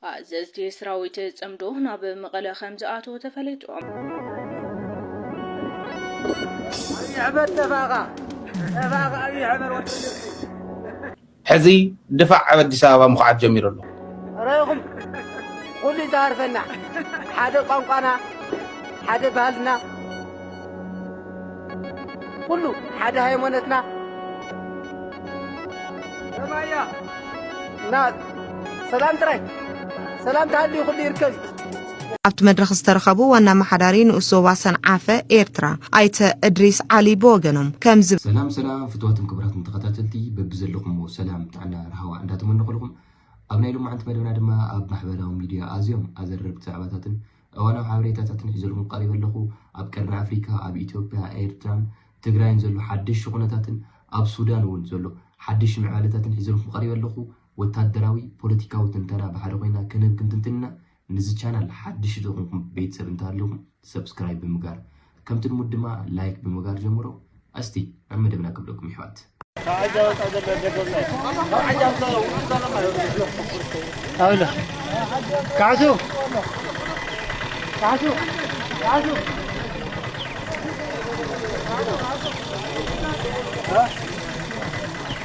ኣዘዝቲ ስራዊት ጽምዶ ናብ መቐለ ከምዝኣትው ተፈሊጡ። ሕዚ ድፋዕ ኣብ ኣዲስ ኣበባ ምኹዓት ጀሚሩ ኣሎ። ረኢኹም ኹሉ'ዩ ዝሃርፈና ሓደ ቋንቋና ሓደ ባህልና። ኩሉ ሓደ ሃይማኖትና ሰማያ እና ሰላም ጥራይ ሰላም ተሃልዩ ኩሉ ይርከብ እዩ። ኣብቲ መድረኽ ዝተረኸቡ ዋና ኣመሓዳሪ ንኡስ ዞባ ሰንዓፈ ኤርትራ ኣይተ እድሪስ ዓሊ ብወገኖም ከምዚ ሰላም ሰላም ፍትዋትን ክብራትን ተኸታተልቲ በብዘለኹምዎ ሰላም ጥዕና ርሃዋ እንዳተመነኹልኹም ኣብ ናይ ሎማዓንቲ መደብና ድማ ኣብ ማሕበራዊ ሚድያ ኣዝዮም ኣዘረርቲ ዛዕባታትን እዋናዊ ሓበሬታታት ንሕዘልኩም ቀሪበ ኣለኹ። ኣብ ቀርኒ ኣፍሪካ ኣብ ኢትዮጵያ፣ ኤርትራን ትግራይን ዘሎ ሓደሽቲ ኩነታትን ኣብ ሱዳን እውን ዘሎ ሓደሽቲ ምዕባለታትን ሒዘልኩም ቀሪበ ኣለኹ። ወታደራዊ፣ ፖለቲካዊ ትንተና ብሓደ ኮይና ክንህብ ክንትንትን ኢና። ንዚ ቻናል ሓደሽቲ ዝኾንኩም ቤተሰብ እንተሃለኹም ሰብስክራይብ ብምግባር ከምቲ ልሙድ ድማ ላይክ ብምግባር ጀምሮ ኣስቲ ናብ መደብና ክብለኩም ይሕዋት ካዕሱ ካዕሱ ካዕሱ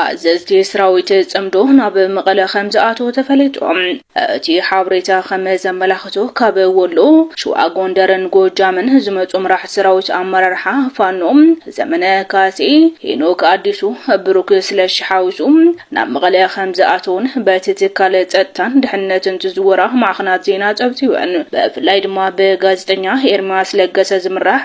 ኣዘዝቲ ስራዊት ጽምዶ ናብ መቐለ ከምዝኣተዉ ተፈሊጡ። እቲ ሓበሬታ ከም ዘመላኽቶ ካብ ወሎ፣ ሽዋ፣ ጎንደርን ጎጃምን ዝመጹ መራሕቲ ሰራዊት ኣመራርሓ ፋኖ ዘመነ ካሴ፣ ሄኖክ ኣዲሱ፣ ብሩክ ስለሺ ሓዊሱ ናብ መቐለ ከምዝኣተዉን በቲ ትካል ጸጥታን ድሕንነትን ዝዝወራ ማዕኸናት ዜና ጸብጺበን። ብፍላይ ድማ ብጋዜጠኛ ኤርምያስ ለገሰ ዝምራሕ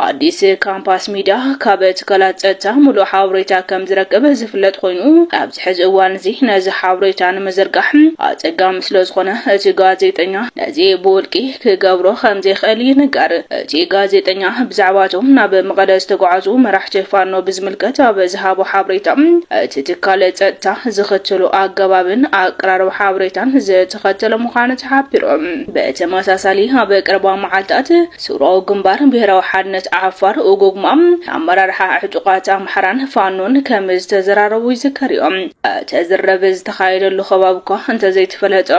ኣዲስ ካምፓስ፣ ሚድያ ካብ ትካላት ፀጥታ ሙሉእ ሓበሬታ ከምዝረክብ ዝፍለጥ ኾይኑ ኣብዚ ሕዚ እዋን እዚ ነዚ ሓበሬታ ንምዝርጋሕ ኣፀጋሚ ስለዝኾነ እቲ ጋዜጠኛ ነዚ ብውልቂ ክገብሮ ከምዘይኽእል ይንገር። እቲ ጋዜጠኛ ብዛዕባ እቶም ናብ መቐለ ዝተጓዓዙ መራሕቲ ፋኖ ብዝምልከት ኣብ ዝሃቦ ሓበሬታ እቲ ትካል ፀጥታ ዝኽተሎ ኣገባብን ኣቀራርባ ሓበሬታን ዝተኸተለ ምዃኑ ተሓቢሩ። ብተመሳሳሊ ኣብ ቀረባ መዓልታት ስውራዊ ግንባር ብሄራዊ ሓድነት ዓፋር፣ ኡጉግማ፣ ኣመራርሓ ዕጡቓት ኣምሓራን ፋኖን ከም ዝተዘራረቡ ይዝከርዮ። እቲ ዝርርብ ዝተኻየደሉ ከባቢ'ኳ እንተዘይተፈለጠ፣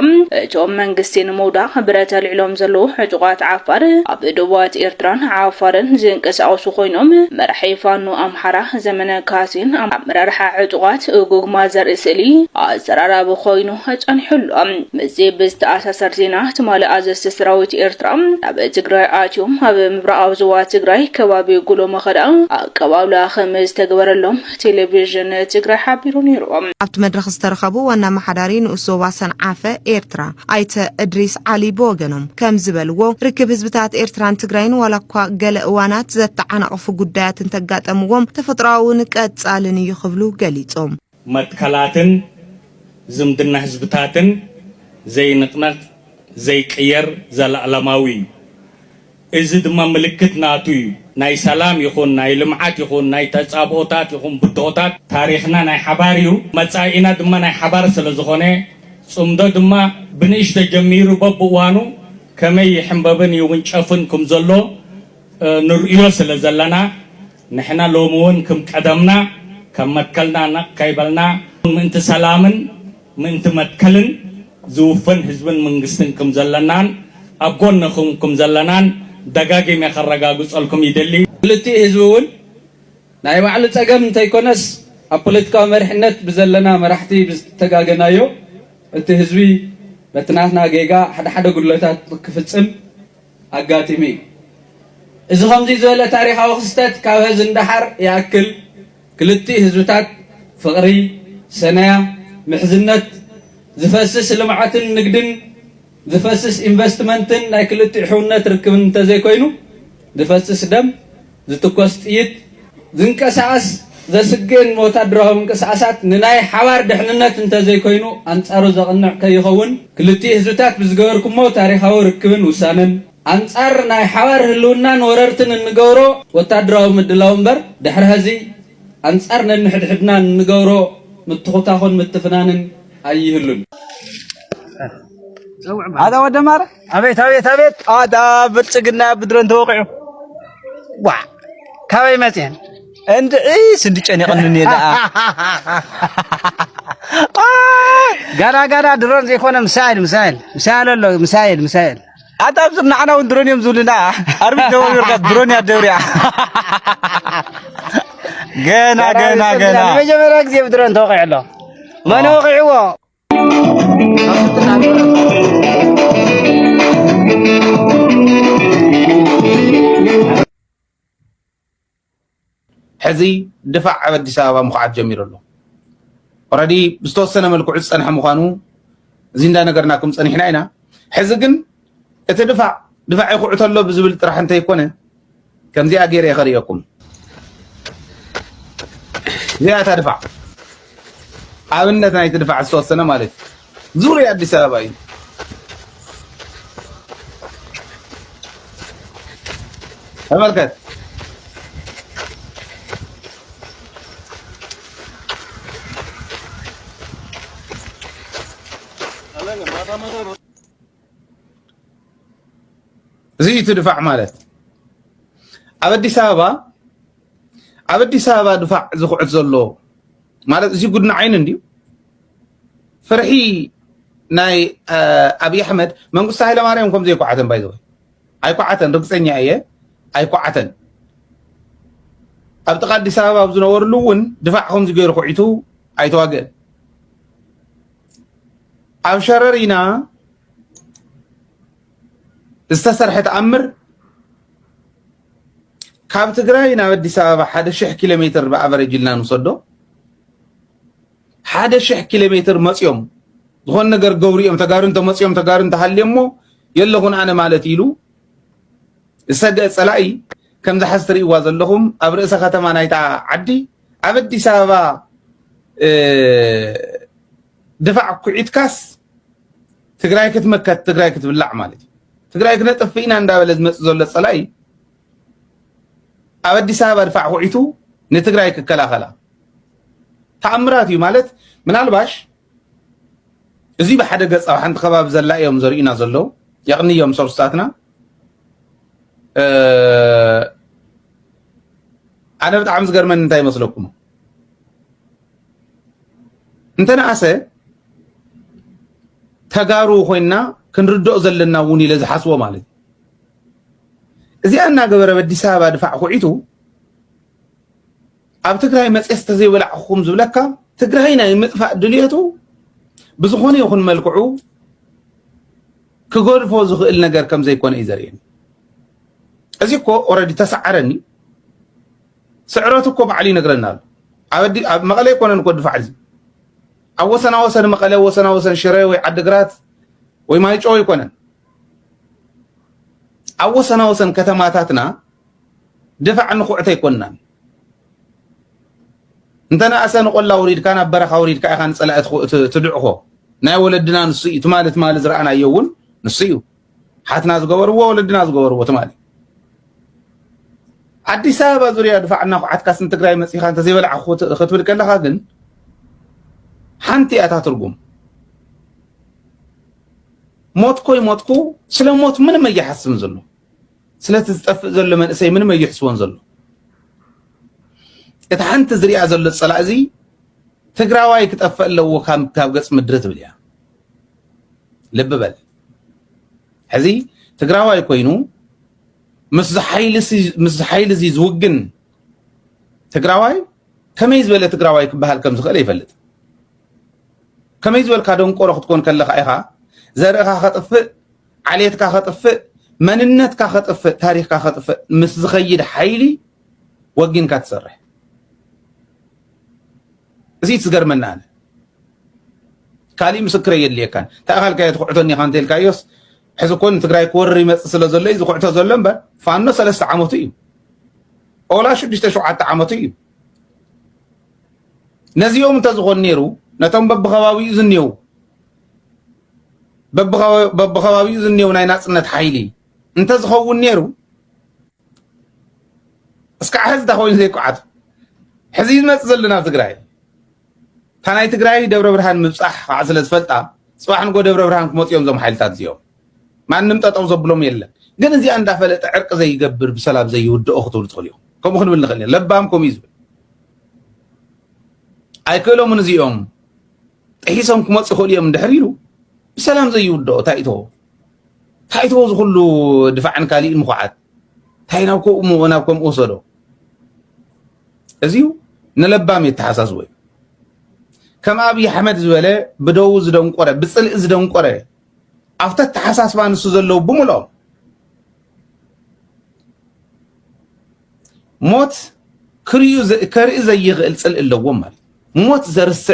እቶም መንግስቲ ንምውዳቕ ብረት ኣልዒሎም ዘለዉ ዕጡቓት ዓፋር፣ ኣብ ዶባት ኤርትራን ዓፋርን ዝንቀሳቐሱ ኮይኖም፣ መራሒ ፋኖ ኣምሓራ ዘመነ ካሴን ኣመራርሓ ዕጡቓት ኡጉግማ ዘርኢ ስእሊ ኣዘራራቢ ኮይኑ ኣጸኒሑ ኣሎ። ምስዚ ብዝተኣሳሰር ዜና ትማሊ ኣዘዝቲ ሰራዊት ኤርትራ ናብ ትግራይ ኣትዮም ኣብ ምብራቓዊ ዞባ ትግራይ ከባቢ ጉሎ መኸዳ ኣቀባብላ ከምዝተገበረሎም ቴሌቪዥን ትግራይ ሓቢሩ ነይሩ። ኣብቲ መድረኽ ዝተረኸቡ ዋና ኣመሓዳሪ ንኡስ ዞባ ሰንዓፈ ኤርትራ ኣይተ እድሪስ ዓሊ ብወገኖም ከምዝበልዎ፣ ርክብ ህዝብታት ኤርትራን ትግራይን ዋላኳ ገለ እዋናት ዘተዓናቕፉ ጉዳያት እንተጋጠምዎም ተፈጥሮኣውን ቀጻልን እዩ ክብሉ ገሊጾም። መትከላትን ዝምድና ህዝብታትን ዘይንቕነቕ ዘይቅየር ዘላኣለማዊ እዩ። እዚ ድማ ምልክት ናቱ እዩ። ናይ ሰላም ይኹን ናይ ልምዓት ይኹን ናይ ተጻብኦታት ይኹን ብድሆታት። ታሪኽና ናይ ሓባር እዩ፣ መጻኢና ድማ ናይ ሓባር ስለ ዝኾነ ጽምዶ ድማ ብንእሽቶ ጀሚሩ በብእዋኑ ከመይ ይሕምበብን ይውንጨፍን ክም ዘሎ ንርእዮ ስለ ዘለና ንሕና ሎሚ እውን ክም ቀደምና ከም መትከልና ነቕ ከይበልና ምእንቲ ሰላምን ምእንቲ መትከልን ዝውፈን ህዝብን መንግስትን ክም ዘለናን ኣብ ጎንኹም ክም ዘለናን ደጋጊመ ከረጋግጸልኩም ይደሊ። ክልቲኡ ህዝቢ እውን ናይ ባዕሉ ጸገም እንተይኮነስ ኣብ ፖለቲካዊ መሪሕነት ብዘለና መራሕቲ ብዝተጋገናዮ እቲ ህዝቢ በቲ ናትና ጌጋ ሓደሓደ ጉድለታት ክፍጽም ኣጋጢሙ እዩ። እዚ ከምዙይ ዝበለ ታሪኻዊ ክስተት ካብ ሀዚ ንደሓር ይኣክል ክልቲኡ ህዝብታት ፍቕሪ፣ ሰነያ፣ ምሕዝነት፣ ዝፈስስ ልምዓትን ንግድን፣ ዝፈስስ ኢንቨስትመንትን ናይ ክልቲኡ ሕውነት ርክብን እንተዘይኮይኑ ዝፈስስ ደም ዝትኮስ ጥይት፣ ዝንቀሳቐስ ዘስግእን ወታደራዊ ምንቅስቓሳት ንናይ ሓባር ድሕንነት እንተዘይኮይኑ ኣንጻሩ ዘቕንዕ ከይኸውን ክልቲኡ ህዝብታት ብዝገበርኩሞ ታሪኻዊ ርክብን ውሳነን ኣንጻር ናይ ሓባር ህልውናን ወረርትን እንገብሮ ወታደራዊ ምድላው እምበር ድሕሪ ሀዚ ኣንጻር ነንሕድሕድና እንገብሮ ምትኹታኹን ምትፍናንን ኣይህሉን። ኣቤት ኣቤት ኣቤት ኣዳ ብልፅግና ብድሮን ተወቂዑ ዋ ካበይ መፅየን እንድዒ ስንዲ ጨኒቕኒ እኔ ደኣ ጋና ጋና ድሮን ዘይኮነ ምሳይል ምሳይል ምሳይል ኣሎ ምሳይል ምሳይል ኣታ ኣብዚ ንዓና እውን ድሮን እዮም ዝብሉና ኣርቢ ደወርካ ድሮን እያ ደብሪያ ገና ገና ገና ንመጀመርያ ግዜ ብድሮን ተወቂዑ ኣሎ መን ወቂዕዎ ሕዚ ድፋዕ ኣብ ኣዲስ ኣበባ ምኩዓት ጀሚሩ ኣሎ ኦረዲ ብዝተወሰነ መልክዑ ዝፀንሐ ምኳኑ እዚ እንዳነገርናኩም ፀኒሕና ኢና ሕዚ ግን እቲ ድፋዕ ድፋዕ ይኹዕቶ ኣሎ ብዝብል ጥራሕ እንተይኮነ ከምዚኣ ገይረ ከርእየኩም እዚኣ እታ ድፋዕ ኣብነት ናይቲ ድፋዕ ዝተወሰነ ማለት እዩ ዙርያ ኣዲስ ኣበባ እዩ ተመልከት እዚ እዩ እቲ ድፋዕ ማለት ኣብ ኣዲስ ኣበባ ኣብ ኣዲስ ኣበባ ድፋዕ ዝኹዕት ዘሎ ማለት እዚ ጉድኒ ዓይኒ እንድዩ ፍርሒ ናይ ኣብዪ ኣሕመድ መንግስቲ ሃይለማርያም ከም ዘይኳዓተን ባይዘወ ኣይኳዓተን ርግፀኛ እየ ኣይኳዓተን ኣብ ጥቃ ኣዲስ ኣበባ ኣብ ዝነበርሉ እውን ድፋዕ ከምዚ ገይሩ ኩዒቱ ኣይተዋግእን ኣብ ሸረሪና ዝተሰርሐ ተኣምር ካብ ትግራይ ናብ ኣዲስ ኣበባ ሓደ ሽሕ ኪሎ ሜትር ብኣቨረጅ ኢልና ንውሰዶ ሓደ ሽሕ ኪሎ ሜትር መፅኦም ዝኾነ ነገር ገብሩ እዮም ተጋሩ እንተመፅኦም ተጋሩ እንተሃልዮ እሞ የለኹን ኣነ ማለት ኢሉ ዝሰገ ፀላኢ ከምዚ ሓዚ ትርእይዋ ዘለኹም ኣብ ርእሰ ከተማ ናይታ ዓዲ ኣብ ኣዲስ ኣበባ ድፋዕ ኩዒትካስ ትግራይ ክትመከት ትግራይ ክትብላዕ ማለት እዩ ትግራይ ክነጥፍእ ኢና እንዳበለ ዝመፅእ ዘሎ ፀላኢ ኣብ ኣዲስ ኣበባ ድፋዕ ኩዒቱ ንትግራይ ክከላኸላ ተኣምራት እዩ ማለት ምናልባሽ እዚ ብሓደ ገፅ ኣብ ሓንቲ ከባቢ ዘላ እዮም ዘርእዩና ዘለዉ የቕንዮም ሶርስታትና ኣነ ብጣዕሚ ዝገርመኒ እንታይ ይመስለኩም እንተነኣሰ ተጋሩ ኮይና ክንርድኦ ዘለና እውን ኢለ ዝሓስቦ ማለት እዩ እዚኣ እናገበረ በዲስ ኣበባ ድፋዕ ኩዒቱ ኣብ ትግራይ መፅየስ ተዘይወላዕኹም ዝብለካ ትግራይ ናይ ምጥፋእ ድልየቱ ብዝኾነ ይኹን መልክዑ ክገድፎ ዝኽእል ነገር ከም ዘይኮነ እዩ ዘርእየኒ እዚ እኮ ኦረዲ ተሰዓረኒ ስዕረቱ እኮ ባዕሉ ይነግረና ኣሎ ኣብ መቐለ ይኮነን እኮ ድፋዕ እዚ ኣብ ወሰና ወሰን መቐለ ወሰና ወሰን ሽረ ወይ ዓድግራት ወይ ማይጮ ይኮነን ኣብ ወሰና ወሰን ከተማታትና ድፋዕ ንኩዕተ ኣይኮንናን እንተነኣሰ ንቆላ ውሪድካ ናብ በረኻ ውሪድካ ኢኻ ንፀላኢ ትድዕኾ ናይ ወለድና ንሱ እዩ ትማሊ ትማሊ ዝረኣናዮ እውን ንሱ እዩ ሓትና ዝገበርዎ ወለድና ዝገበርዎ ትማሊ ኣዲስ ኣበባ ዙርያ ድፋዕ እናኹዓትካ ስን ትግራይ መፂኻ እንተዘይበልዓ ክትብል ከለኻ ግን ሓንቲ እያ እታ ትርጉም ሞትኮይ ሞትኩ ስለ ሞት ምንም እየሓስብን ዘሎ ስለቲ ዝጠፍእ ዘሎ መንእሰይ ምንም ኣይሕስቦን ዘሎ እቲ ሓንቲ ዝሪኣ ዘሎ ፀላእ እዚ ትግራዋይ ክጠፍእ ኣለዎ ካብ ገፅ ምድሪ ትብል እያ ልቢ በል ሕዚ ትግራዋይ ኮይኑ ምስ ሓይሊ እዚ ዝውግን ትግራዋይ ከመይ ዝበለ ትግራዋይ ክበሃል ከም ዝኽእል ይፈልጥ ከመይ ዝበልካ ደንቆሮ ክትኮን ከለካ ኢኻ ዘርእኻ ከጥፍእ ዓሌትካ ከጥፍእ፣ መንነትካ ከጥፍእ፣ ታሪኽካ ከጥፍእ ምስ ዝኸይድ ሓይሊ ወጊንካ ትሰርሕ። እዚ እዩ ዝገርመና ኣነ። ካሊእ ምስክረ የድልየካን ተኣኻልካዮ ትኩዕቶኒ ኢኻ እንተልካዮስ ሕዚ እኮ ንትግራይ ክወርር ይመፅእ ስለ ዘሎ እዩ ዝኩዕቶ ዘሎ እምበር ፋኖ ሰለስተ ዓመቱ እዩ ኦላ ሽዱሽተ ሸውዓተ ዓመቱ እዩ ነዚኦም እንተዝኾን ነይሩ ነቶም በብከባቢኡ ዝኔው በብኸባቢኡ ዝኔው ናይ ናፅነት ሓይሊ እንተዝኸውን ነይሩ እስካዕ ሕዚ እታ ኮይኑ ዘይቋዓቱ ሕዚ ዝመፅ ዘሎ ናብ ትግራይ እታ ናይ ትግራይ ደብረ ብርሃን ምብፃሕ ከዓ ስለ ዝፈልጣ ፅባሕ ንጎ ደብረ ብርሃን ክመፁ እዮም እዞም ሓይልታት እዚኦም ማንም ጠጠው ዘብሎም የለን ግን እዚኣ እንዳፈለጠ ዕርቂ ዘይገብር ብሰላም ዘይውድኦ ክትብሉ ትኽእሉ ኢኹም ከምኡ ክንብል ንኽእል ኢና ለባም ከምኡ እዩ ዝብል ኣይክእሎምን እዚኦም ጥሒሶም ክመፁ ይኽእሉ እዮም እንድሕር ኢሉ ብሰላም ዘይውድኦ ታይቶ ታይቶ ዝኩሉ ድፋዕን ካሊእን ምኩዓት እንታይ ናብ ከምኡ ናብ ከምኡ ወሰዶ እዚዩ ንለባም የተሓሳስቦ እዩ ከም ኣብዪ ኣሕመድ ዝበለ ብደው ዝደንቆረ ብፅልኢ ዝደንቆረ ኣብቲ ኣተሓሳስባ ንሱ ዘለዉ ብምልኦም ሞት ከርኢ ዘይኽእል ፅልኢ ኣለዎም ማለት ሞት ዘርስዕ